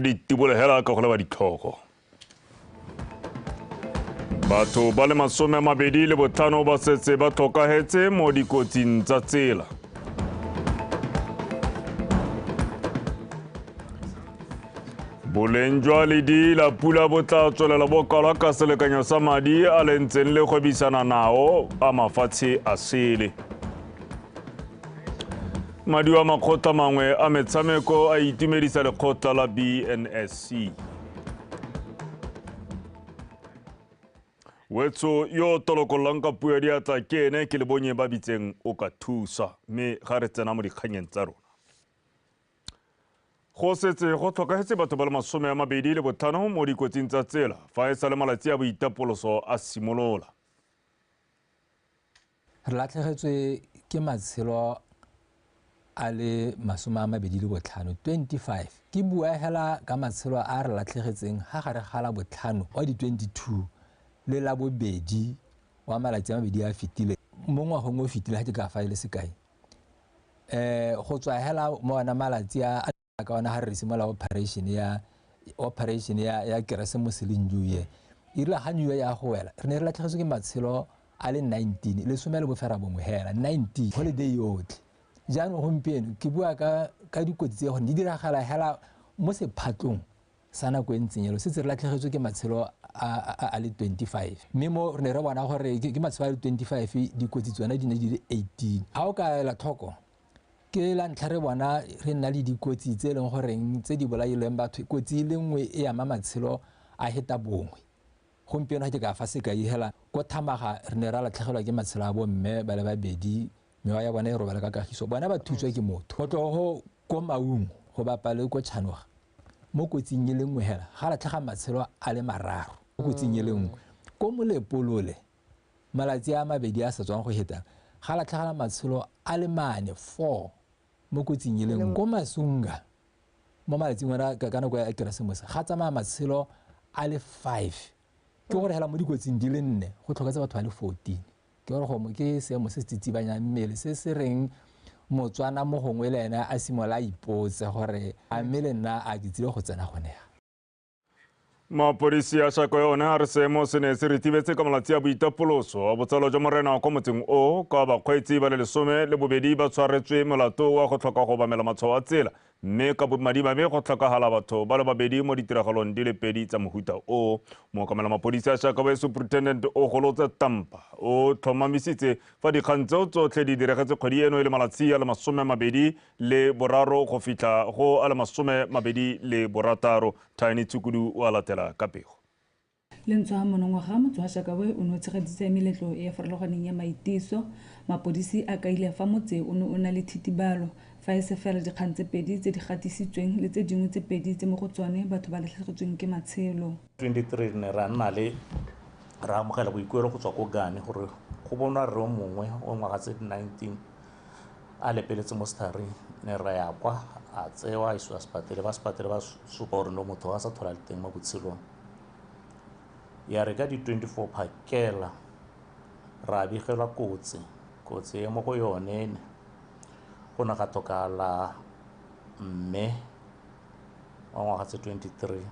ditibolo hela ka go leba ditlhogo batho ba le masome a mabedi le botlhano ba setse ba tlhokagetse mo dikotsing tsa tsela boleng jwa ledi la pula bo tla tswelela bokalwa ka selekanyo sa madi a le ntseng le gwebisana nao a mafatshe a sele Madi a makgotla mangwe a metshameko a itumedisa lekgotla la BNSC. wetso yo o tolokololang ka puo ya diatla ke ene ke lebonye ba bitseng o ka thusa mme ga re tsena mo dikganyeng tsa rona go setse go tlhokagetse batho ba le masome a mabedi le botlhano mo dikotsing tsa tsela fa e sa le malatsi a boitapoloso a simolola Re latlhegetswe ke matshelo a le masome a mabedi le botlhano 25 ke bua hela ka matshelo a re latlhegetseng ha gare ga la botlhano wa di-22 le la bobedi wa malatsi a mabedi a fetile mo ngwagong o fetile ga ke ka fa e le sekai um go tswa hela mo ona malatsi a ka ona ga re simolola operation ya operation ya ya keresemose le new year e rile ga new year ya go wela re ne re latlhegetswe ke matshelo a le 19 le some le bofera bongwe hela 19 holiday yotlhe jaanong gompieno ke bua ka ka dikotsi tse gone di diragala hela mo sephatlong sa nako e ntseng elo setse re latlhegetswe ke matshelo a le 25 mme mo re ne re bona gore ke matshelo a le 25 dikotsi tsone di ne di le 18 ga o ka ela tlhoko ke la ntlha re bona re nna le dikotsi tse e leng goreng tse di bolailweng batho kotsi e le nngwe e ama matshelo a heta bongwe gompieno ga ke ka fa sekai hela ko thamaga re ne ra latlhegelwa ke matshelo a bomme ba le babedi mewa ya bona e robala ka kagiso bona ba thutswa ke motho go tlogo ko maungo go bapale ko tšhanoga mo kotsing e le nngwe hela ga latlhega matshelo a le mararo kotsing e le nngwe ko molepolole Malatsi a mabedi a sa tswang go heta, ga latlhegela matshelo a le mane, four, mo kotsing e le nngwe. Ko Masunga, mo malatsing ona ka ka nako ya Keresemose, ga tsamaya matshelo a le five. Ke gore hela mo dikotsing di le nne, go tlhoketse batho ba le fourteen. Ke gore go mo- ke seemo se se tsitsibanyang mmele, se se reng Motswana mo gongwe le ene a simolola a ipotse gore a mme le nna a ke tsile go tsena gone ya. mapodisi ya shako yone a re seemo se ne se retibetse ka malatsi a boitapoloso a botsalo jwa morena kwa motseng o ka bakgweetsi ba le lesome le bobedi ba tshwaretswe molato wa go tlhoka go obamela matshwao a tsela mme ka bomadimabe go tlhokagala batho ba le babedi mo ditiragalong di le pedi tsa mohuta o mookamela mapodisi a shaka ba superintendent o golotse tampa o tlhomamisitse fa dikgang tseo tsotlhe di diregetse kgwedi eno e le malatsi a le masome a mabedi le boraro go fitlha go a le masome mabedi le borataro. Tiny Tshukudu o a latela ka pego. Lentsho ha monongwaga motse wa Shakawe o ne o tshegeditse meletlo e e farologaneng ya maitiso. Mapodisi a kaile fa motse o ne o na le thitibalo fa e se fela dikgang tse pedi tse di gatisitsweng le tse dingwe tse pedi tse mo go tsone batho ba latlhegetsweng ke matshelo. 23 re ne ra nna le ra amogela boikuelo go tswa ko Gane gore go bonwa rre mongwe o ngwaga tse 19 a lepeletse mo setharing ne ra ya kwa a tsewa a isiwa sepatele ba sepatele ba supa gore no motho a sa thola le teng mo botshelong ya re ka di-24 phakela ra begelwa kotsi kotsi e mo go yone go ne ga tlhokala mme wa ngwaga tse twenty three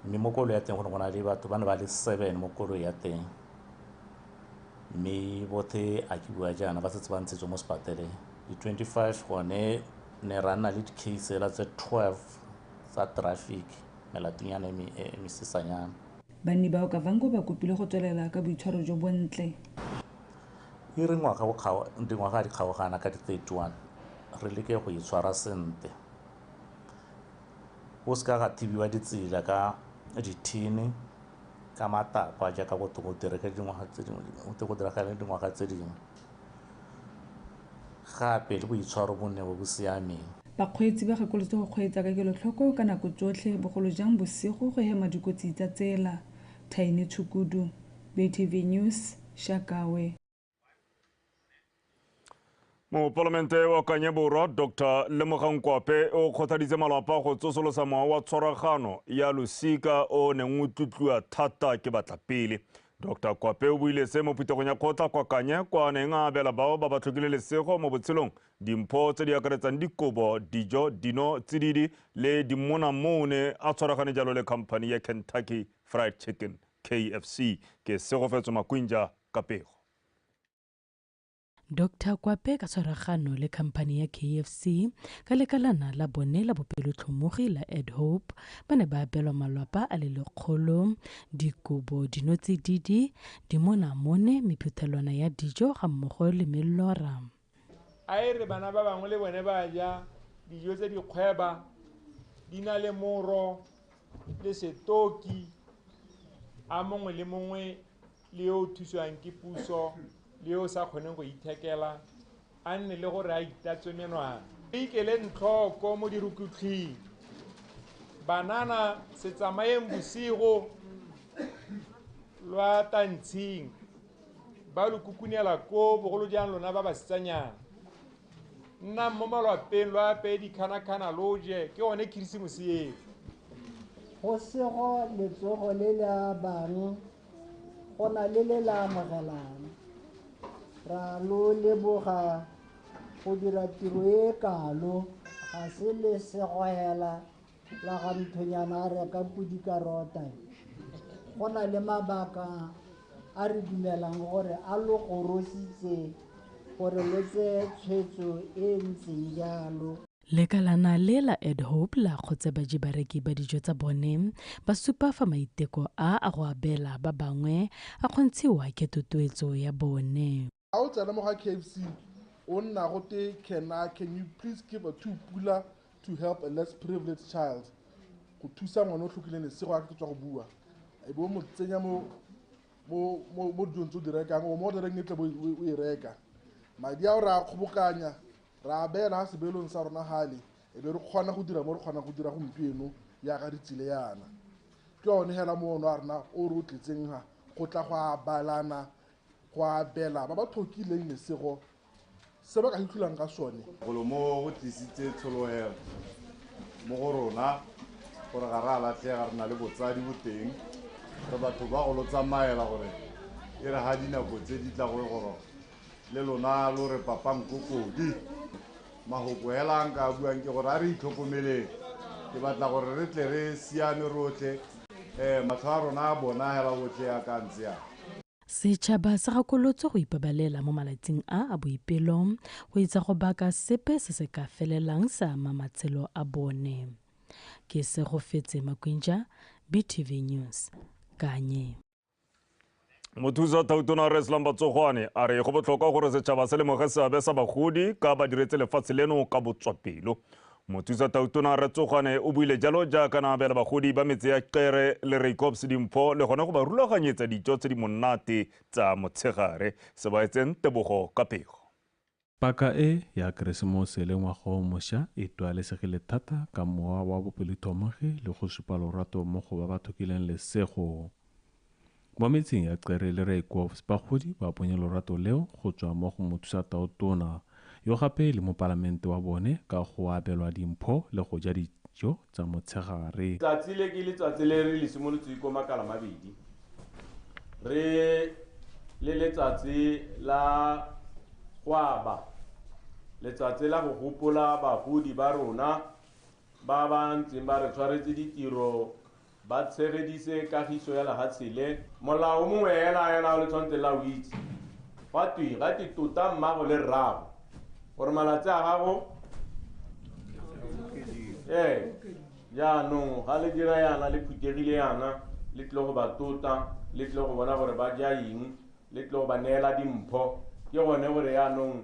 mme mo koloi ya teng go ne go na le batho ba ne ba le seven mo koloi ya teng mme bothe a ke bua jaana ba setse ba ntshetswe mo sepateleng di-twenty five gone ne ra nna le di-case fela tse twelve tsa traffic melatinyana e me- e mesesanyana banni bao kavango ba kopile go tswelela ka boitshwaro jo bontle E re ngwaga o kgaoga, dingwaga di kgaogana ka di 31, re leke go itshwara sente. Go se ka ga thibiwa ditsela ka dithini, ka matakwa jaaka go go diragale dingwaga tse dingwe, go go diragale dingwaga tse dingwe. Gape le boitshwaro bo nne bo bo siameng. Bakgweetsi ba gakolotswe go kgweetsa ka kelotlhoko ka nako tsotlhe, bogolo jang bosigo go hema dikotsi tsa tsela. Thaini Tshukudu. BTV News, Shakawe. mopalamente wa kanye borwa dr lemogang kwape o kgothaditse malapa go tsosolosa mowa wa tshwaragano ya losika o neng o tlotliwa thata ke batlapele dr kwape o buile se mo phuthegong ya kgotla kwa kanye kwa neng a abela bao ba ba tlhokile lesego mo botshelong dimpho tse di akaretsang dikobo dijo dino tsididi le dimona moo ne a tshwaragane jalo le company ya kentucky fried chicken KFC ke Segofetso Makwinja ka pego. Doctor Kwape ka tshwaragano le khamphani ya KFC ka lekalana la bone la bopelotlhomogi la Ed Hope ba ne ba abelwa malwapa a le lekgolo, dikobo, dinotsididi, dimonamone, mephuthelwana ya dijo ga mmogo le mellora. A e re bana ba bangwe le bone ba ja dijo tse di kgweba di na le moro le setoki a mongwe le mongwe le yo o thusiwang ke puso le yo o sa kgoneng go ithekela a nne le gore a itatswe menwana re ikeleng tlhoko mo dirukutlhing banana se tsamayeng bosigo lwa tantshing ba lo kukunela koo bogolo jang lona ba basetsanyana nnang mo malwapeng lo apeye dikganakgana lo je ke one khirisimose eo go sego letsogo le le abang go na le le le amogelang ra lo leboga go dira tiro e kalo ga se le segoela la ga nthonyana a reka podi ka rota go na le mabaka a re dumelang gore a lo gorositse gore lo tseye tshwetso e e ntseng jalo lekalana le la ed hope la kgotse baji bareki ba dijo tsa bone ba supa fa maiteko a a go abela ba bangwe a kgontshiwa ke tutuetso ya bone Ga o tsena mo ga KFC o nna go te can I can you please give a two pula to help a less privileged child go thusa ngwana o tlhokileng lesego a ke tswa go bua e bo mo tsenya mo mo mo mo dilong tse o di rekang o mo o direng e tle bo o e reka madi a o re a kgobokanya re a beela ga sebelong sa rona gale e be re kgona go dira mo re kgonang go dira gompieno yaka re tsile yana ke yone hela moono a rena o re o tletseng ga go tla go a balana Go abela ba ba thokileng lesego se ba ka itlholang ka sone. Golo mo go tlisitse tshologelo mo go rona gore ga re a latlhega, re na le botsadi boteng, re batho ba go lo tsamaela gore e re ga dinako tse di tla go e goroga le lona lo re papang ko kodi. Mahoko hela a nka a buang ke gore a re itlhokomeleng. Ke batla gore re tle re siame rotlhe, um matlho a rona a bona hela otlhe a ka ntse a. Setšhaba se gakolotswe go ipabalela mo malatsing a a boipelo go itsa go baka sepe se se ka felelang se ama matshelo a bone. Ke Segofetse Makwinja, BTV News, Kanye. mothusa thautona a reslang batsogwane a re go botlhokwa gore setšhaba se lemoge seabe sa bagodi ka ba diretse lefatshe leno ka botswapelo mothusa thautona re tsogwane o buile jalo jaaka na abela bagodi ba metse ya kere le reikops dimpho le gone go ba rulaganyetsa dijo tse di monate tsa motshegare se ba etseng tebogo ka pego Paka e ya Keresemose le Ngwaga o Mosha e twalesegile thata ka mowa wa bopelithomogi le go supa lorato mo go ba ba thokileng lesego. Mo metseng ya Cere le Rooikwofs bagodi ba bonye lorato leo go tswa mo go Mothusatao Tona, yo gape e le mopalamente wa bone ka go abelwa dimpho le go ja dijo tsa motshegare. Tsatsi le ke letsatsi le re le simolotseng ko Makalamabedi, re le letsatsi la go aba, letsatsi la go gopola bagodi ba rona ba ba ntseng ba re tshwaretse ditiro Ba tshegeditse kagiso ya lehatshe le. Molao mongwe ela ela o le tshwantseng la o itse. Gwa twe, ga twe tota mmago le rrago, gore malatsi a gago. Ee, jaanong ga le dira yana, le phuthegile yana, le tlile go ba tota, le tlile go bona gore ba ja eng, le tlile go ba neela dimpho. Ke gone gore jaanong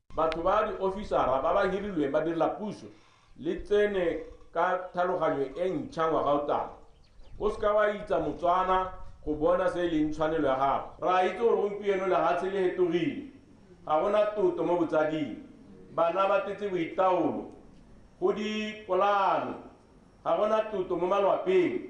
Batho ba diofisara ba ba hirilweng badirela puso le tsene ka thaloganyo e ntšha ngwaga o tlang. O seka wa itsa Motswana go bona se e leng tshwanelo ya gago. Re a itse gore gompieno lehatshe le hetogile, ga go na toto mo botsading, bana ba tetse boitaolo go dipolaano, ga go na toto mo malwapeng.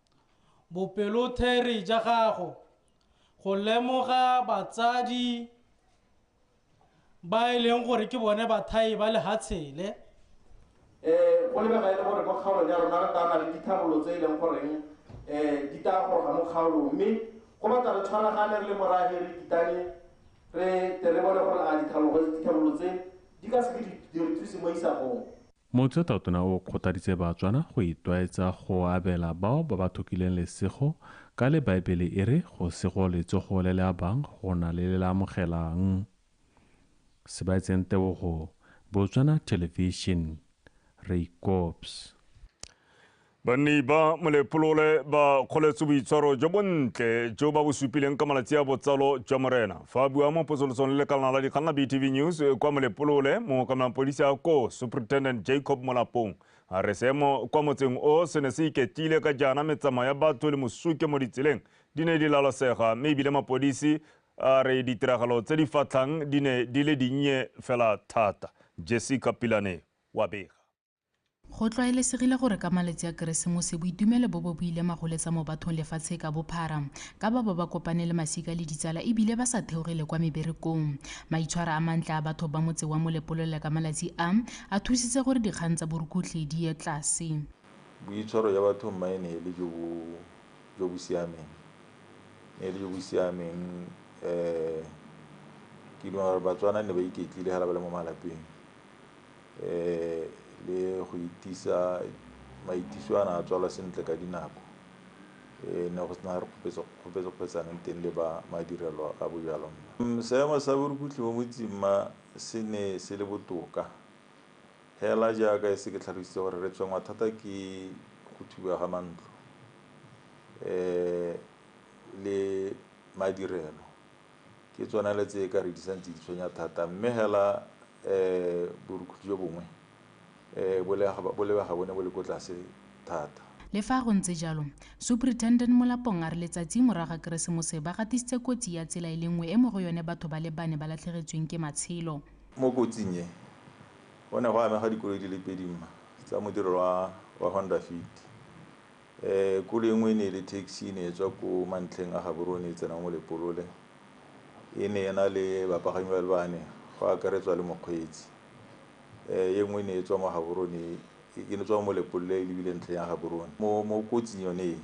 Bopelotheri ja gago go lemoga batsadi ba e leng gore ke bone bathai ba lehatshele. Um go lebega e le gore mo kgaolong ya rona re tana le ditharolo tse e leng goreng um di taya go ga mo kgaolong mme go batla re tshwaragane re le morahe re kitane re tle re bone gore a ditharolo tse di ka se ke di re thuse mo isagong. Motse Tatona o kgothaditse Batswana go itlwaetsa go abela bao ba ba thokileng lesego ka le Baebele e re go sego letsogo le le abang go na le le le amogelang. Sebaetseng Tebogo, Botswana Television, Reikops. Banni ba Molepolole ba kgoletse boitshwaro jo bontle jo ba bo supileng ka malatsi a botsalo jwa Morena. Fa a bua mo posolosong le lekalana la dikgang la BTV News kwa Molepolole, mookamelang polisi a ko Superintendent Jacob Molapong a re seemo kwa motseng o se ne se iketlile ka jaana metsamao ya batho le mosuke mo ditseleng di ne di lalosega mme ebile mapodisi a re ditiragalo tse di fatlhang di ne di le dinnye fela thata. Jessica Pilane wa bega. Go tlwaelesegile gore ka malatsi a Keresemose boitumelo bo bo bo ile magoletsa mo bathong lefatshe ka bophara, ka ba ba ba kopane le masika le ditsala e bile ba sa theoge le kwa meberekong. Maitshwaro a mantle a batho ba motse wa Molepolole ka malatsi a, a thusitse gore dikgang tsa borukutlhi di ye tlase. Boitshwaro jwa batho mma e ne e le jo bo jo bo siameng, ne e le jo bo siameng ke duma gore Batswana ne ba iketlile ga le ba le mo malapeng, le go itisa maitiso a na a tswala sentle ka dinako e ne go sena re kgopetsokgopetsaneng teng le ba madirelo a bojalwa mma seemo sa borukutlhi mo motseng ma se ne se le botoka hela jaaka e se ke tlhalositse gore re tshwengwa thata ke go thuba ga mantlo le madirelo ke tsone le tse e ka re di santse di tshwenya thata mme hela um borukhutlhi jo bongwe um bolebega bone bo le ko tlase thata le fa go ntse jalo superintendent molapong a re letsatsi morago ga keresemose ba gatisitse kotsi ya tsela e le nngwe e mo go yone batho ba le bane ba latlhegetsweng ke matshelo mo kotsing e go ne go amega dikoloi di le pedi mma tsa modirelo wa honda fit Um kolo e nngwe e ne e le taxi e ne e tswa ko mantlheng a Gaborone e tsena mo Lepolole, e ne e na le bapagami ba le bane go akaretswa le mokgweetsi. E nngwe e ne e tswa mo Gaborone e ne tswa mo Lepolole e lebile ntlheng ya Gaborone. Mo kotsing yone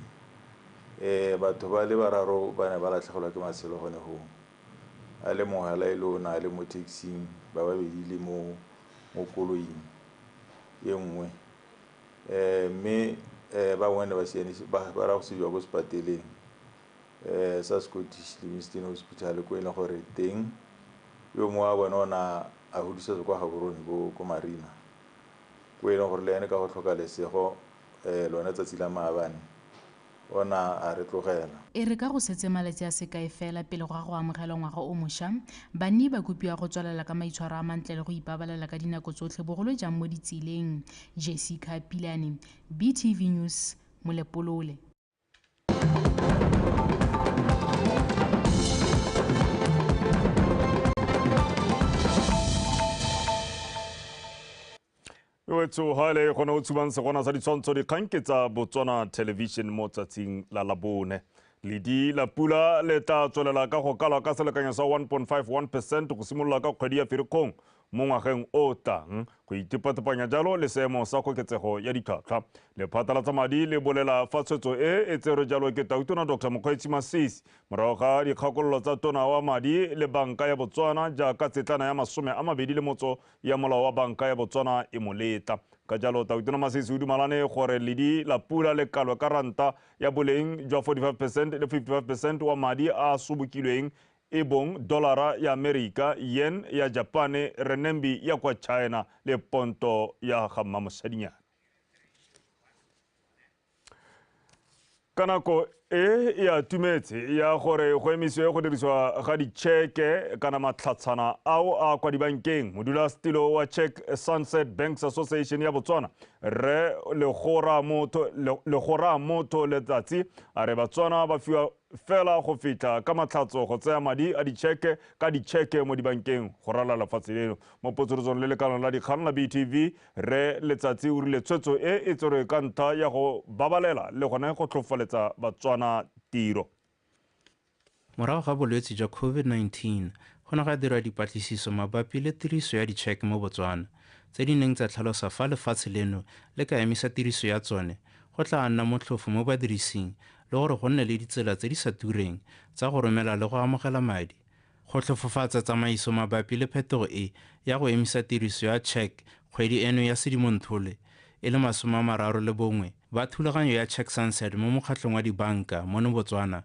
e batho ba le bararo ba ne ba latlhegelwa ke matshelo gone go o, a le mongwe fela e le o ne a le mo taxi-ng ba babedi le mo koloing e nngwe. um mme um bangwe ba sianisiwa ba raya go isiwa ko sekwateleng um sa Scottish Livingstone Hospital ko e leng gore teng yo mongwe wa bone o na a godisetswa kwa Gaborone ko Marina ko e leng gore le ene ka go tlhoka lesego um lone tsatsi la maabane ona a re tlogela. E re ka go setse malatsi a sekae fela pele ga go amogelwa ngwaga o mosha, banni ba kopiwa go tswelela ka maitshwaro a mantle le go ipabalela ka dinako tsotlhe bogolo jang mo ditseleng. Jessica Pilane, BTV News, Molepolole. wetso ga ele gone o tshubang segona sa ditshwantsho dikgang ke tsa botswana television mo tsatsing la labone ledi la pula le tla tswelela ka go kalwa ka selekanyo sa 1.51 percent go simolola ka kgwedi ya ferikgong mo ngwageng o tlang go itepatepanya jalo le seemo sa koketsego ya ditlhwatlhwa lephata la tsa madi le bolela fa tshwetso e e tserwe jalo ke tautona dr mokgweetsi masisi morago ga dikgakololo tsa tona wa madi le banka ya botswana jaaka tsetlana ya masome a mabedi le motso ya molao wa banka ya Botswana e mo letla. Ka jalo, Tautona Masisi o dumalane gore ledi la pula le kalwe ka ranta ya boleng jwa 45 percent le 55 percent wa madi a a sobokilweng e bong dolara ya Amerika, yen ya Japane, renminbi ya kwa China le ponto ya ga mmamosadinyana. ka nako e e atumetse ya gore go emiswe go dirisiwa ga ditšheke kana matlhatshana ao a kwa dibankeng modulasetilo wa check sunset banks association ya botswana rre legora motho letsatsi a re batswana ba fiwa fela go fitlha ka matlhatso go tsaya madi a ditšheke ka ditšheke mo dibankeng go rala lefatshe leno mo potsolotsong le lekano la dikgang la btv Rre Letsatsi o rile tshwetso e e tserwe ka ntlha ya go babalela le gone go tlhofaletsa Batswana tiro. Morago ga bolwetse jwa COVID-19, go ne ga dirwa dipatlisiso mabapi le tiriso ya ditšheke mo Botswana, tse di neng tsa tlhalosa fa lefatshe leno le ka emisa tiriso ya tsone go tlaa nna motlhofo mo badirising le gore go nne le ditsela tse di sa tureng tsa go romela le go amogela madi Go tlhofofatsa tsamaiso mabapi le phetogo e ya go emisa tiriso ya check kgwedi eno ya Sedimonthole e le masome a mararo le bongwe, ba thulaganyo ya Check Sunset mo mokgatlhong wa dibanka mono Botswana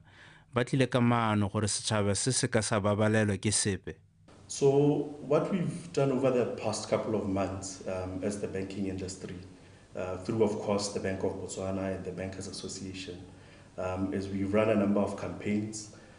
ba tlile ka maano gore setšhaba se se ka sa babalelwa ke sepe. So what we've done over the past couple of months um, as the banking industry, uh, through of course the Bank of Botswana and the Bankers Association, um, is we run a number of campaigns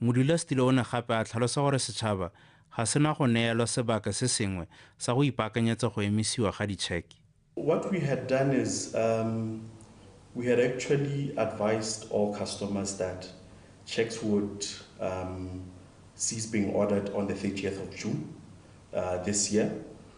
Modulasetilo o ne gape a tlhalosa gore setšhaba ga se na go neelwa sebaka se sengwe sa go ipaakanyetsa go emisiwa ga ditšheke. What we had done is um we had actually advised all customers that cheques would um cease being ordered on the thirtieth of June uh this year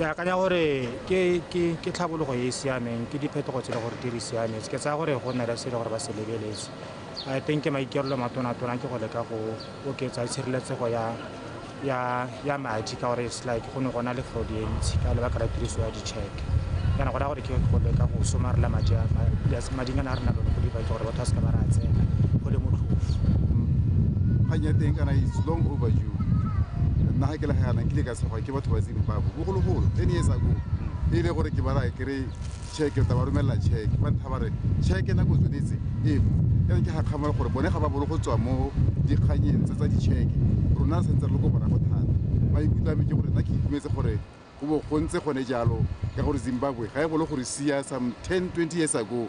ke akanya gore ke tlhabologo e e siameng ke diphetogo tse le gore di re siametse ke tsaya gore go nna le se le gore ba se lebeletse i think maikerelo matonatona ke go leka go oketsa tshireletsego ya ya ya madi ka gore it's like go ne gona le fraud e ntsi ka lebaka la tiriso ya di-check kana go raya gore ke go leka go somarela madi mading a ne a re na lone go diba ke gore batho ba seka ba re a tsena go le motlhofo kgang ya teng kana it's long overdue nna ga ke legaganang ke le ka tshegwa ke batho ba zimbabwe bogologolo ten years ago e ile gore ke bara ke re cheke ta ba romelela cheke ba ntha ba re cheke nako tshwanetse e mo yana ke gakgamole gore bone ga ba bolo go tswa mo dikganyeng tse tsa dicheke rona re santse re le ko bona go thata maikutlo a me ke gore nna ke itumetse gore go bo go ntse gone jalo ka gore zimbabwe ga e bolo gore sia some ten twenty years ago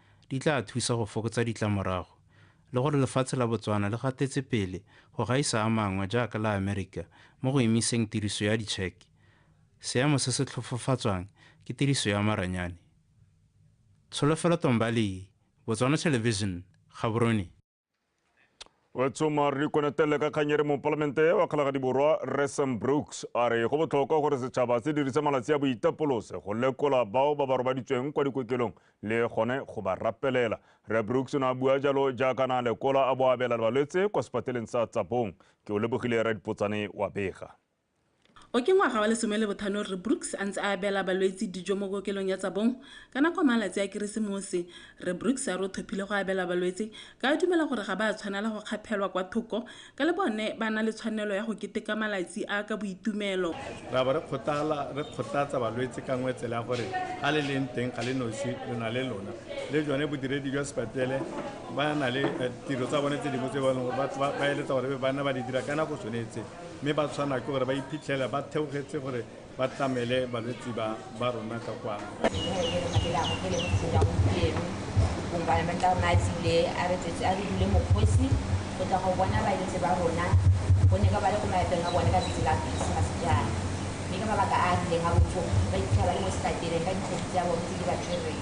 di tla thusa go fokotsa ditlamorago le gore lefatshe la Botswana le gatetse pele go gaisa a mangwe jaaka la Amerika mo go emiseng tiriso ya ditšheke, seemo se se tlhofofatswang ke tiriso ya maranyane. Tsholofelo Tombaleye, Botswana Television, Gaborone. wa tshoma re konetele ka kganyere mopalamente wa kgalagadi borwa resam brooks a re go botlhokwa gore setšhaba se dirise malatsi a boitapolose go lekola bao ba ba robaditsweng kwa dikokelong le gone go ba rapelela re brooks o ne a bua jalo jaaka na lekola a bo abela balwetse kwa sepateleng sa tsapong ke o lebogile ra dipotsane wa bega O ke ngwaga wa lesome le bothano Rre Brooks a ntse a abela balwetsi dijo mo kokelong ya Tsabong. Ka nako ya malatsi a Keresemose, Rre Brooks a re o thophile go abela balwetse ka a dumela gore ga ba a tshwanela go kgaphelwa kwa thoko ka le bone ba na le tshwanelo ya go keteka malatsi a ka boitumelo. Ra bo re kgothala re kgothatsa balwetse ka nngwe tsela ya gore ga le leng teng ga le nosi lo na le lona le jone bodiredi jwa sepatele ba na le tiro tsa bone tse dingwe tse ba eletsa gore ba nne ba di dira ka nako tshwanetseng. mme ba tshwana ke gore ba iphitlhela ba theogetse gore ba tlamele balwetse ba ba rona ka kwa environmental nights ile a re tsetse a re dule mokgosi go tla go bona balwetse ba rona gonne ka ba le ko maetong a bone ka tsetse la christmas jaana mme ka mabaka a a rileng a botlhoko ba iphitlhela ba le mo setatele ka dikgwedi tsa bone tse di ba tshwereng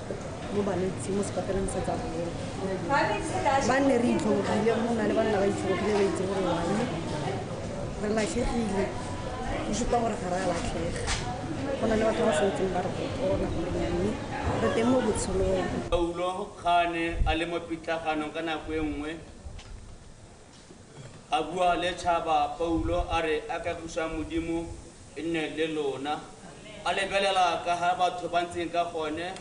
mo balwetsing mo sekopelang sa tsa bone ba nne re itlhobogile mo na le banna ba itlhobogile ba itse gore wang re latlhegile go supa gore ga re a latlhega go na le batho ba sentseng ba re gotona gore nyame re teng mo botshelong paulo ga a ne a le mo pitlaganong ka nako e nngwe A bua le tšhaba, Paulo a re a ka busang Modimo e nne le lona. A lebelela ka ga batho ba ntseng ka gone,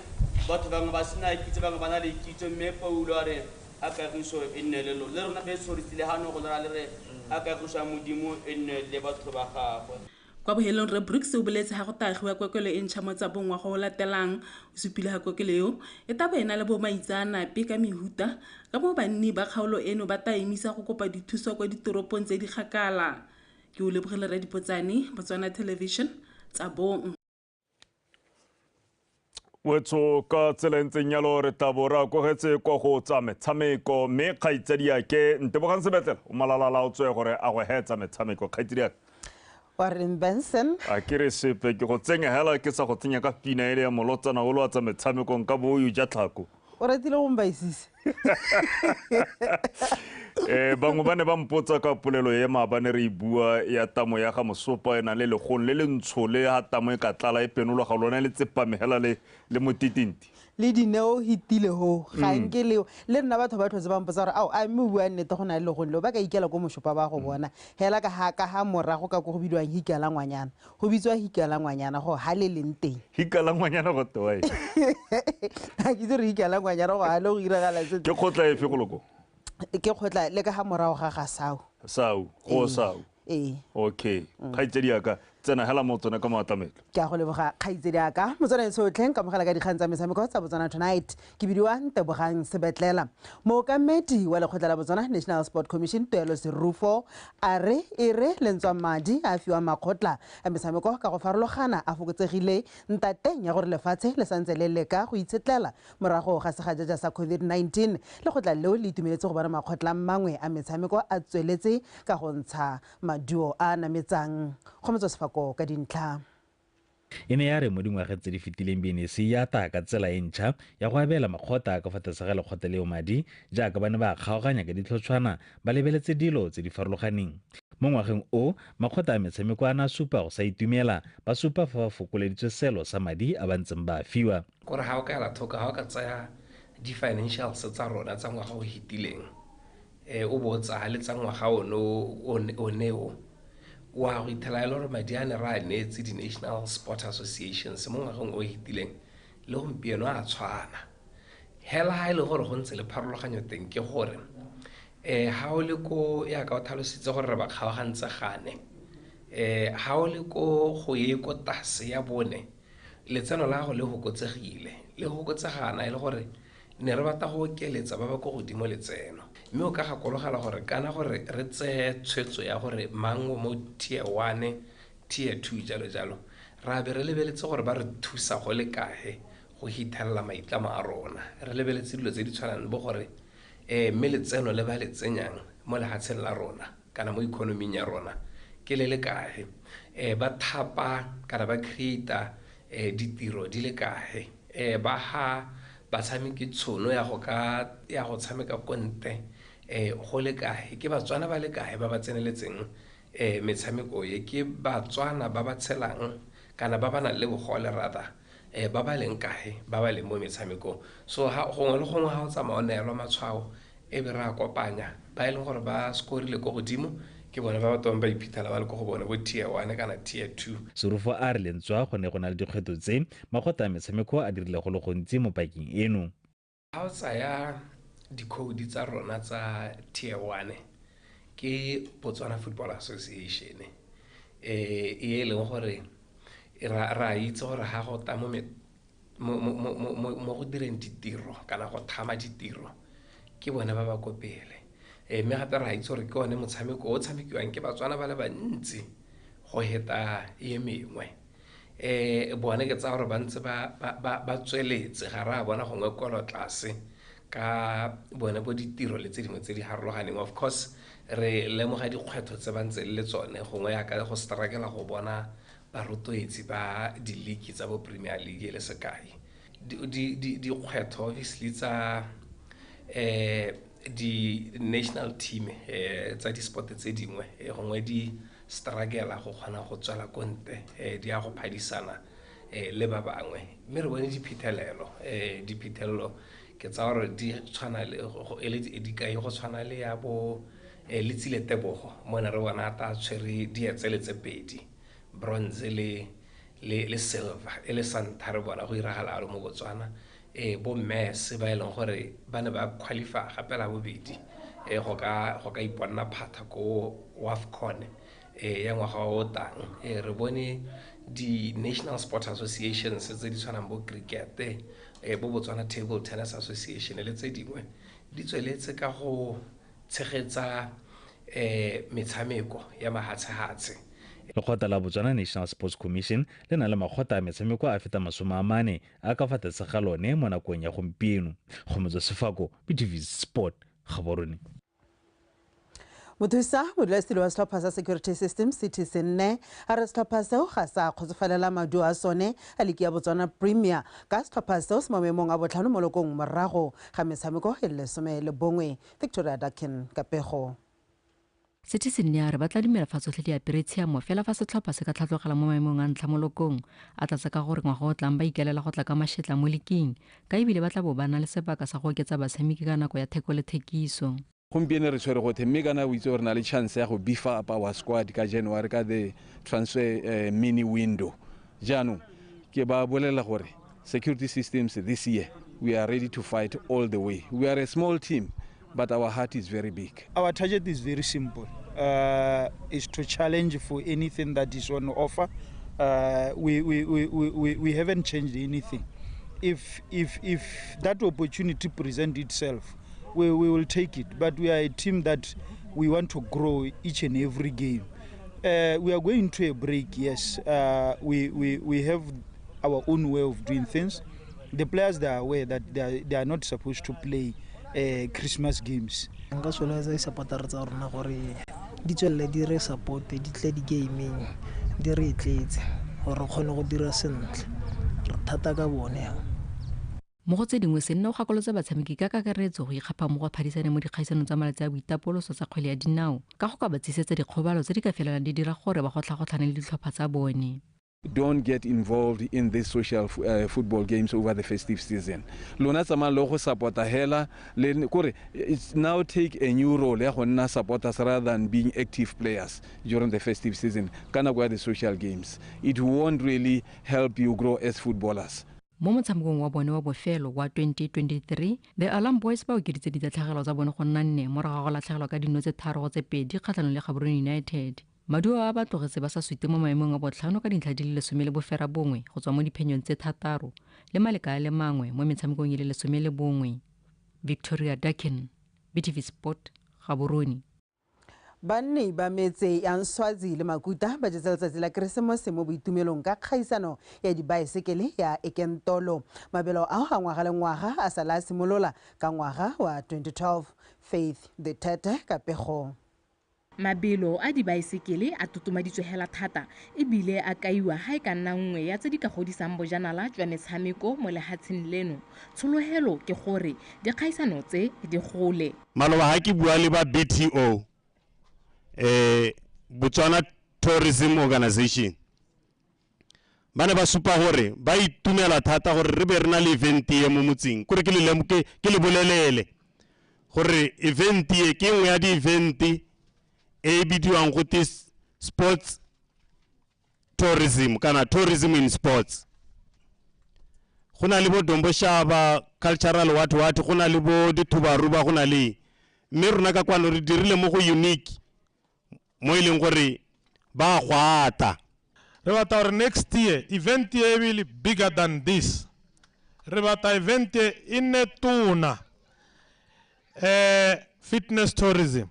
batho bangwe ba sena kitso, bangwe ba na le kitso, mme Paulo a re a kagiso e nne le lona. Le rona beso re tsile gano go lera le re a ka busang Modimo e nne le batho ba gagwe. Kwa bohelong Rre Brooks o boletse ga go ta agiwa kokelo e ntšha mo tsa bongwa go o latelang. O supile ga kokelo eo e ta bo e na le bomaitsaanape ka mehuta ka moo banni ba kgaolo eno ba ta emisa go kopa dithuso kwa ditoropong tse di kgakala. Ke Olebogile Redipotsane, Botswana Television, Tsabong. wetsho ka tsela e ntseng yalo re tla bo re akogetse kwa go tsa metshameko mme kgaitsadiake ntebogang sebetlela o malalala o tswe gore a go hetsa metshameko kgaitsadiaka warren benson a ke re sepe ke go tsenya hela ke sa go tsenya ka pina ele ya molotsana o lo a tsa metshamekong ka booyo ja tlhako o ratile go mbaisise um bangwe ba ne ba mpotsa ka polelo e maabane re e bua ya tamo ya ga mosopa e nang le legong le le ntsho le ga tamo e ka tlala e penologa lone le tsepamegela le le motitinti le dineo hitile ho ga mm. nke leo le nna batho ba tlhotse ba mpotsa gore ao a mme o bua nnete go na le legong leo ba ka ikela ko mosopa ba go mm. bona hela ka ga ka ga morago ka ko go bidiwang hikela ngwanyana Go bitswa hikalangwanyana go ha le leng teng. Hikalangwanyana go tewa eng? Ga ke itse re hikalangwanyana go ha le go iragala se. Ke kgotla efe go loko? Ke kgotla le ka ga morago ga ga Sau. Sau, go Sau. Ee. Okay. Kgaitsedi ya ka, tsena hela mo tsone ka moatlamelo. Ke a go leboga kgaitsedi ya ka. Motswana e sotlhe, nkamogela ka dikgang tsa metshameko tsa Botswana Tonight. ke bidiwa ntebogang sebetlela mookamedi wa lekgotla la botswana national sport commission tuelo serufo a re e re lentswa madi a fiwa makgotla a metshameko ka go farologana a fokotsegile ntateng ya gore lefatshe le santse le leka go itshetlela morago ga segajaja sa covid-19 lekgotla leo le itumeletse go bona makgotla mangwe a metshameko a tsweletse ka go ntsha maduo a a nametsang go metswa sefako ka dintlha E ne ya re mo dingwageng tse di fetileng BNEC e ata ka tsela e ntšha ya go abela makgotla a ka fa tlase ga lekgotla leo madi jaaka ba ne ba a kgaoganya ka ditlhotshwana ba lebeletse dilo tse di farologaneng. Mo ngwageng o, makgotla a metshameko a ne a supa go sa itumela, ba supa fa ba fokoleditswe seelo sa madi a ba ntseng ba a fiwa. O re ga o ka ela thoko, ga o ka tsaya di-financials tsa rona tsa ngwaga o fetileng, e o bo o tsaya le tsa ngwaga one one o o a go ithela e le gore madi a ne re a neetse di-national sport associations mo ngwageng o e fetileng le gompieno a tshwana hela ga e le gore go ntse le pharologanyo teng ke gore um ga o le ko ya ka o tlhalositse gore re ba kgaogantse gane um ga o le ko go ye ko tase ya bone letseno la go le fokotsegile le fokotsegana e le gore Ne re batla go okeletsa ba ba kwa godimo letseno. Mme o ka gakologela gore kana gore re tseye tshwetso ya gore mang o mo tier one, tier two jalo jalo, ra be re lebeletse gore ba re thusa go le kae go hithelela maitlamo a rona. Re lebeletse dilo tse di tshwanang le bo gore um mme letseno le ba le tsenyang mo lehatsheng la rona kana mo economy-ing ya rona ke le le kae. Um ba thapa kana ba create-a eh, ditiro di le kae eh, ba ga batshameki tshono ya go ka ya go tshameka ko ntle eh, go le kae ke batswana ba le kae ba ba tseneletseng eh, metshameko e ke batswana ba ba tshelang kana ba ba nang le bogole rather eh, ba ba leng kae ba ba leng mo metshamekong so ha gongwe le gongwe ga o tsamaya o neelwa matshwao e be re a kopanya ba e leng gore ba skorile ko godimo ke bone ba batho ba ba iphitlhela ba le ko go bone bo tier one kana tier two. Serufo a re lentswa go ne go na le dikgwetlho tse makgotla a metshameko a dirile go le gontsi mo pakeng eno. Ga o tsaya dikhoudu tsa rona tsa tier one ke Botswana Football Association e e leng gore re a itse gore ga go tla mo mo go direng ditiro kana go thama ditiro ke bone ba ba ko pele eh, mme gape ra itse gore ke one motshameko o tshamekiwang ke batswana ba le bantsi go heta e mengwe um bone ke tsaya gore ba ntse ba tsweletse ga ra bona gongwe kolo tlase ka bone bo ditiro le tse dingwe tse di harologaneng of course re lemoga dikgwetlho tse ba ntse le tsone gongwe yaka go strakela go bona Barotloetsi ba diliki tsa bo Premier League e le sekai, dikgwetho obviously tsa di-national team tsa di-sport tse dingwe gongwe di struggle-a go kgona go tswela ko ntle di ya go phadisana le ba bangwe. Mme re bone diphethelelo, diphethelelo ke tsa gore di tshwana le e le dikai go tshwana le ya bo Letsile Tebogo mo ne re bona ata tshwere dietsele tse pedi bronze le le le silver e le santa re bona go iragala alo mo botswana e bo mmese ba e leng gore ba ne ba qualify gape la bobedi e go ka go ka iponna phatha ko wafcon e ya ngwaga o tang e re bone di-national sport associations tse di tshwanang bo cricket e bo botswana table tennis association le tse dingwe di tsweletse ka go tshegetsa um metshameko ya mahatshehatshe. Lekgotla la Botswana National Sports Commission le na le makgotla a metshameko a feta masome a mane a ka fa tlase ga lone mo nakong ya gompieno. Kgomotso Sefako, BTV Sport, Gaborone. mothusa modulasetilo wa setlhopha sa security system ctc nne a re setlhopha seo ga sa kgotsofalela maduo a sone a liki ya botswana premier ka setlhopha seo se mo maemong a botlhano mo lokong morago ga metshameko e le lesome le bongwe. Victoria Dakin ka pego. Citizen ya re ba tla dumela fa tsotlhe di apere tshiamo fela fa setlhopha se ka tlhatlogela mo maemong a ntlha mo lokong a tlatsa ka gore ngwaga o tlang ba ikalela go tla ka mašetla mo liking ka ebile ba tla bo ba na le sebaka sa go oketsa batshameki ka nako ya theko le thekiso. gompieno re tshwere gothe mme kana o itse gore na le chance ya go beefa up our squad ka january ka the transfer uh, mini window jaanong ke ba bolelela gore security systems this year we are ready to fight all the way we are a small team but our heart is very big our target is very simple uh, is to challenge for anything that is on offer uh, we, we, we, we, we haven't changed anything if, if, if that opportunity present itself we, we will take it but we are a team that we want to grow each and every game uh, we are going to a break yes uh, we, we, we have our own way of doing things the players they are aware that they are, they are not supposed to play uh, christmas games nka solotsa disapotare tsa rona gore di tswelele di re supporte di tle di-gaming di re e tletse gore re kgone go dira sentle re thata ka bone Mo go tse dingwe, se nne o gakolotse batshameki ka kakaretso go ikgapha mo go phadisaneng mo dikgaisanong tsa malatsi a boitapoloso tsa kgwele ya dinao ka go ka ba tshisetsa dikgobalo tse di ka felelang di dira gore ba gotlhagotlhane le ditlhopha tsa bone. Don't get involved in these social football games over the festive season. Lona tsamayang le go support-a hela le kore now take a new role ya go nna supporters rather than being active players during the festive season ka nako ya the social games. It won't really help you grow as footballers. Mo motshamekong wa bone wa bofelo wa 2023, The Alarm Boys ba okeditse ditatlhegelo tsa bone go nna nne morago ga go latlhegelwa ka dino tse tharo go tse pedi kgatlhanong le Gaborone United. Maduo a a ba tlogetse ba sa sute mo maemong a botlhano ka dintlha di le lesome le boferabongwe go tswa mo diphenyong tse thataro le maleka a le mangwe mo metshamekong e le lesome le bongwe. Victoria Dakin, BTV Sport, Gaborone. Banni ba metse ya Nswazi le Makuta ba jetse letsatsi la Keresemose mo boitumelong ka kgaisano ya dibaesekele ya Ekentolo. Mabelo ao a ngwaga le ngwaga a sala a simolola ka ngwaga wa 2012. Faith Dithete ka pego. Mabelo a dibaesekele a totomaditswe hela thata e bile a kaiwa ha e ka nna nngwe ya tse di ka godisang bojanala jwa metshameko mo lehatsheng leno. Tshologelo ke gore dikgaisano tse di gole. Maloba ha ke bua le ba BTO, eh, Botswana Tourism Organization, ba ne ba supa gore ba itumela thata gore re be re na le event e mo motseng kore ke le ke ke le bolelele gore event e ke nngwe ya di-event e bidiwang go te sports tourism kana tourism in sports go na le bo domboshaba cultural what what go na le bo dithubaruba go na le mme rona ka kwano re dirile mo go unique mo e leng gore ba gwata re batla gore next year event e e le bigger than this re batla event e e nne tona eh, fitness tourism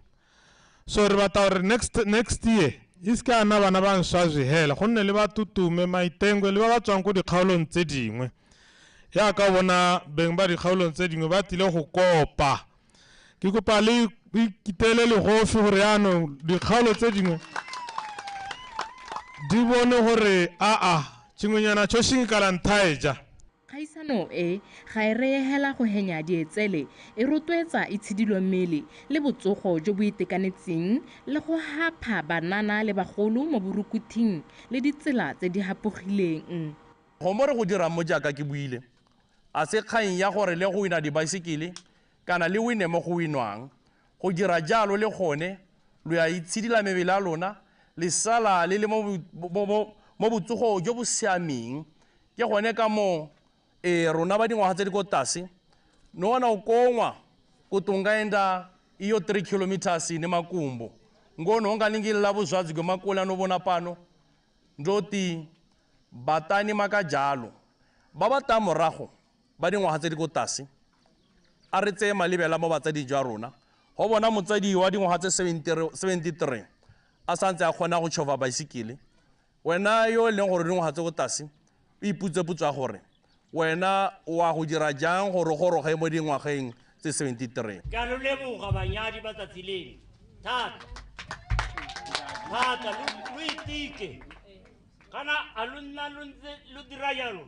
so re batla gore next, next year e se ka na bana ba nswazwe hela go nne le batutume maitengwe le ba ba tswang ko dikgaolong tse dingwe yaka bona beng ba dikgaolong tse dingwe ba tlile go kopa ke kopa le ikitele legofi gore yaanong dikgaolo tse dingwe di bone gore aa tshingwenyana tshoshing kalanthai ja Kgaisano e, ga e reye hela go henya dietsele, e rotloetsa itshidilo mmele le botsogo jo bo itekanetseng le go hapha banana le bagolo mo borukuthing le ditsela tse di hapogileng. Go mo re go dirang mo jaaka ke buile, a se kgang ya gore le go wina dibaesekele kana le wine mo go winwang, Go dira jalo le gone lo ya itshidila mebele ya lona le sala le le mo botsogong jo bo siameng. Ke gone ka moo ee rona ba dingwaga tse di ko tlase no wana o kongwa kutungaenda iyo 3 kilometers ne makumbo ngono ungalingilila vuzwadzi gwe makula no vona pano ndoti batani makajalo ba ba ta morago ba dingwaga tse di ko tlase, a re tseye malebela mo batsading jwa rona. Go bona motsadi wa dingwaga tse 73 a sa ntse a kgona go tšhofa baesekele, wena yo e leng gore dingwaga tse ko tlase, o iputse potso ya gore wena o a go dira jang gore goroge mo dingwageng tse 73. Ke a lo leboga banyadi ba tsatsi leno thata thata, lo itike kana a lo nna lo ntse lo dira jalo.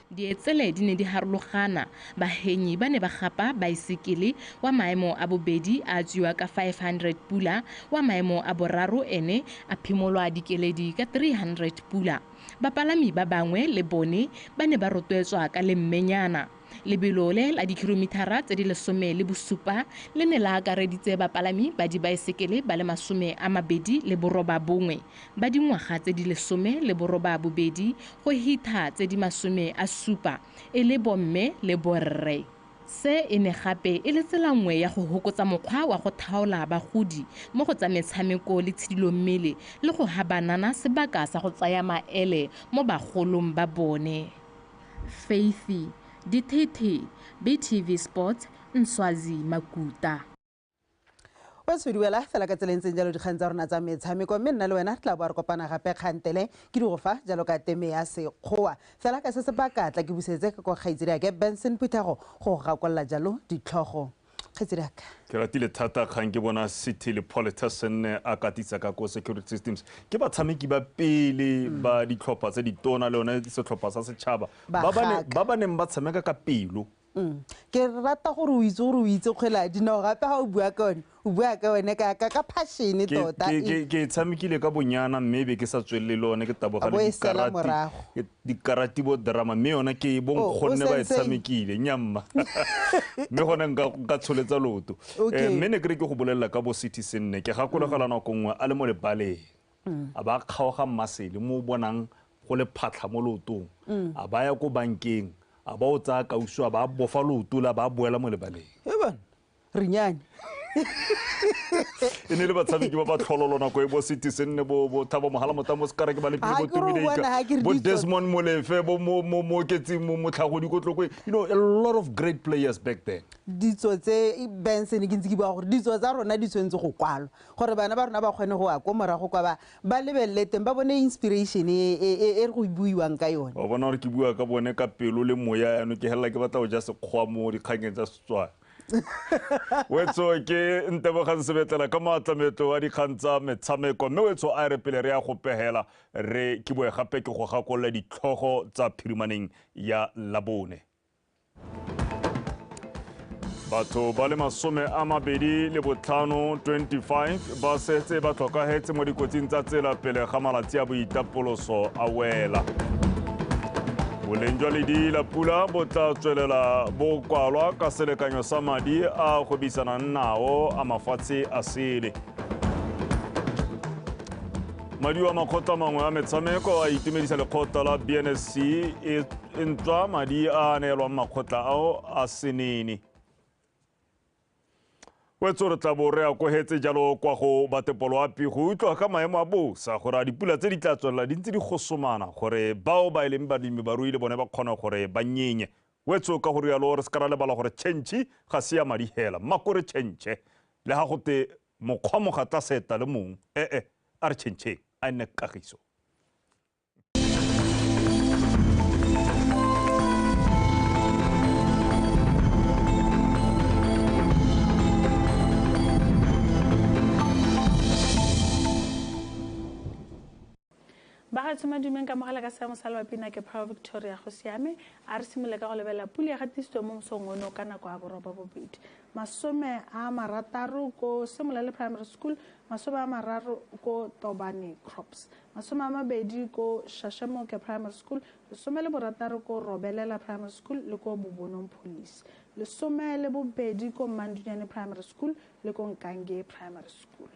Dietsele di ne di harologana, bahenyi ba ne ba gapa baesekele, wa maemo a bobedi a atswiwa ka 500 pula, wa maemo a boraro ene a phimolwa dikeledi ka 300 pula. Bapalami ba bangwe le bone ba ne ba rotwetswa ka lemmenyana. Lebelo le la dikilomithara tse di lesome le bosupa le ne la akareditse bapalami ba dibaesekele ba le masome a mabedi le borobabongwe. ba dingwaga tse di lesome le borobaabobedi go hitha tse di masome a supa e le bomme le borre. Se e ne gape e le tsela nngwe ya go hokotsa mokgwa wa go thaola bagodi mo go tsa metshameko le tshidilommele le go ha banana sebaka sa go tsaya maele mo bagolong ba bone. Faithy Dithethe, BTV Sports, Nswazi Makuta. o se duela fela ka tseleng tseng jalo dikgang tsa rona tsa metshameko mme nna le wena tla bo re kopana gape kgantele ke di go fa jalo ka teme ya sekgowa fela ka se se baka tla ke busetse ka kwa kgaitsedi ake benson phuthego go gakolola jalo ditlhogo kgaitsedi aka ke ratile thata kgang ke bona city le politessen a katisa ka ko security systems ke batshameki ba pele mm. ba ditlhopha tse ditona le yone setlhopha sa setšhaba ba ba neng ba tshameka ka pelo Mm. ke rata gore o itse gore o itse kgwele ya dinao gape ga o bua ka one o bua ka one ka ka ka passion Ke- tota ke- ke- ke e tshamekile ka bonyana mme e be ke sa tswelele le one ke taboga A bo le e sela dikarati- morago. ke- dikarati bo drama mme yona ke Oh, o bonkgonne ba e senseng. tshamekile nyamma mme gone nka nka tsholetsa loto Okay. Eh, mme ne ke re ke go bolelela ka bo citizen ne ke gakologela nako nngwe a le mo lebaleng a ba a kgaoga mmasele mo o bonang go le phatlha mo lootong, a ba ya ko bankeng, a ba o tsaya kausu a ba a bofa looto le a ba a boela mo lebaleng. E bana, re nyane. e ne le batshameki ba ba tlhololo nako e bo sete se nne bo bo thabo mogala motamo mo sekareke ba lepile bo tumideika bo desmond molefe bo mo mo mo oketseng mo motlhagodi ko tlokwe you know a lot of great players back then ditso tse benson ke ntse ke bua gore ditso tsa rona di tshwanetse go kwalwa gore bana ba rona ba kgone go ya ko morago kwa ba ba lebelele teng ba bone inspiration e e, e, e re go buiwang ka yone wa bona gore ke bua ka bone ka pelo le moya yaanong ke helela ke batla go ja sekgwa mo dikgangeng tsa setswana wetso ke ntebogang sebetlela ka maatlametlo a dikgang tsa metshameko mme wetso a re pele re ya go pegela re ke boe gape ke go gakolola ditlhogo tsa phirimaneng ya labone batho ba le masome a mabedi le botlhano 25 ba setse ba tlhokagetse mo dikotsing tsa tsela pele ga malatsi a boitapoloso a wela boleng jwa ledi la pula bo tla tswelela bo kwalwa ka selekanyo sa madi a gwebisanang nao a mafatshe a sele madi wa makgotla mangwe a metshameko a itumedisa lekgotla la bnsc e ntswa madi a a neelwang makgotla ao a senene wetso re tla bo re a kogetse jalo kwa go batepoloapi go utlwa ka maemo a bosa gore a dipula tse di tla tswelela di ntse di gosomana gore bao ba e leng balemi barui le bone ba kgone gore ba nyenye wetso ka go rialo re se ka ra lebala gore tšhentšhi ga se ya madi hela mmako re tšhentšhe le ga gote mokgwa mogatla seta le mong ee a re tšhentšheng a nne kagiso bagatso madumeng ka mogala ka seemo sa lebapina ke power victoria go siame a re simole ka go lebelela pule ya gatisitswe mo mosong ono ka nako ya boroba bobedi masome a marataro ko semolale primary school masome a mararo ko tobane crops masome a mabedi ko Shashemoke Primary School, lesome le borataro ko Robelela Primary School le ko Bobonong Police, lesome le bobedi ko Mandunyane Primary School le ko Nkange Primary School,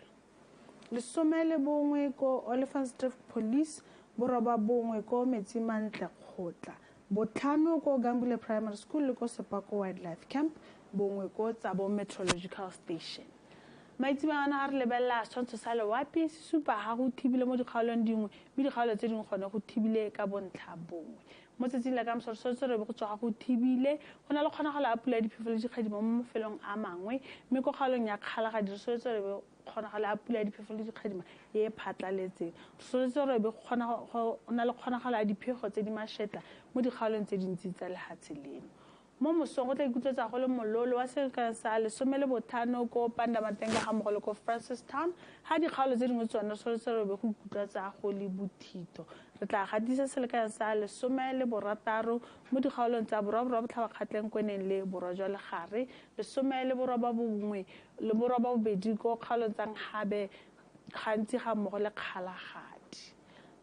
lesome le bongwe ko Olifantsdrift Police, boroba bongwe ko Metsimantle Kgotla, botlhano ko Gambule Primary School le ko Sepako Wildlife Camp, bongwe ko Tsabo Meteorological Station. maitsebana ga re lebelela setshwantsho sa lewape se supa ga go thibile mo dikgaolong dingwe mme dikgaolo tse dingwe gone go thibile ka bontlha bongwe mo tsatsing la ka mosa re tshwanetse re be go tswa ga go thibile go na le kgonagalo a pula ya diphefo le dikgadimo mo mafelong a mangwe mme ko kgaolong ya kgalagadi re tshwanetse re be kgonagalo a pula ya diphefo le dikgadima e e phatlaletseng re tshwanetse re be go na le kgonagalo a diphego tse di mashetla mo dikgaolong tse dintsi tsa lehatshe leno Mo mosong go tla ikutlwetsa go le mololo wa selekano sa lesome le bothano ko Pandamatenga ga mmogo le ko Francistown, ga dikgaolo tse dingwe tsone Solotselelo be go ikutlwatsa go le bothito. Re tla gatisa selekano sa lesome le borataro mo dikgaolong tsa Borwa Borwa Botlhabakgatleng ko e neng le Borwa jwa Legare, lesome le borobabongwe le borobabobedi ko kgaolong tsa Nkgabe gantsi ga mmogo le Kgalagadi.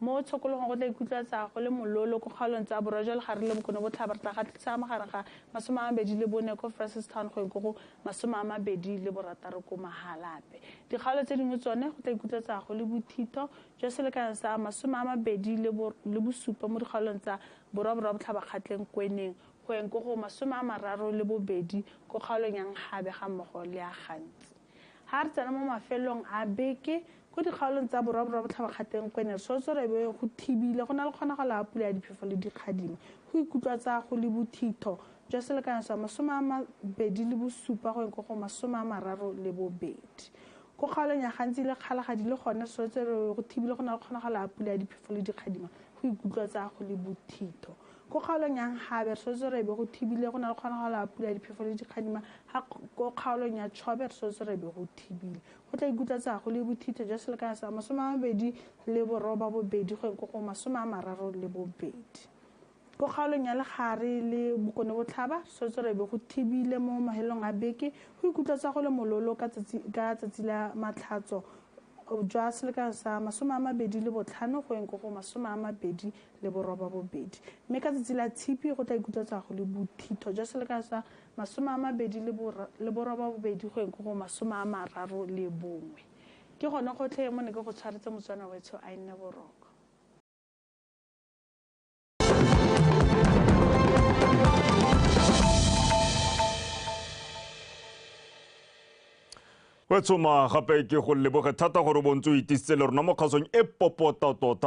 Mo tshokologong go tla ikutlwatsa go le mololo ko kgaolong tsa borwa jwa legare le bokone botlhaba re tla gatlisa magareng ga masome a mabedi le bone ko Francistown go go masome a mabedi le borataro ko Mahalape. Dikgaolo tse dingwe tsone go tla ikutlwatsa go le bothitho jwa selekanyo sa masome a mabedi le bosupa mo dikgaolong tsa borwa borwa botlhaba kgatleng kweneng go go masome a mararo le bobedi ko kgaolong ya Nkgabe ga mmogo le ya Gantsi. Ha re tsena mo mafelong a beke, ko dikgaolong tsa borwa borwa botlhabakgateng go ene sotsoro e be go thibile, go na le kgonagalo ya pula ya diphefo le dikgadimo. Go ikutlwatsa go le bothitho jwa selekanyo sa masome a mabedi le bosupa go eng ko go masome a mararo le bobedi. Ko kgaolong ya gantsi le kgalagadi le gone sotsoro e be go thibile, go na le kgonagalo ya pula ya diphefo le dikgadimo. Go ikutlwatsa go le bothitho. Ko kgaolong ya Nkgabe, re swetse re be go thibile. Go na le kgonagalo ya pula, diphefo le dikgadima. Ga ko kgaolong ya Chobe, re swetse re be go thibile. Go tla ikutla tsa go le bothitho jwa selekanyo sa masome a mabedi le boroba bobedi go ko go masome a mararo le bobedi. Ko kgaolong ya Legare le Bokone Botlhaba, re swetse re be go thibile mo mahelong a beke. Go ikutla tsa go le mololo ka tsatsi la Matlhatso jwa selekanyo sa masome a mabedi le botlhano go ko go masome a mabedi le borobabobedi, mme ka tsatsi la Tshipi go tla ikutlwa tswa go le bothitho jwa selekano sa masome a mabedi le borobabobedi go eng ko go masome a mararo le bongwe. Ke gone gotlhe mo ne ke go tshwaretse Motswana wetsho a nne boroko. o tshoma gape ke go leboge thata gore bontse o itisitse le rona mo kgasong e popota tota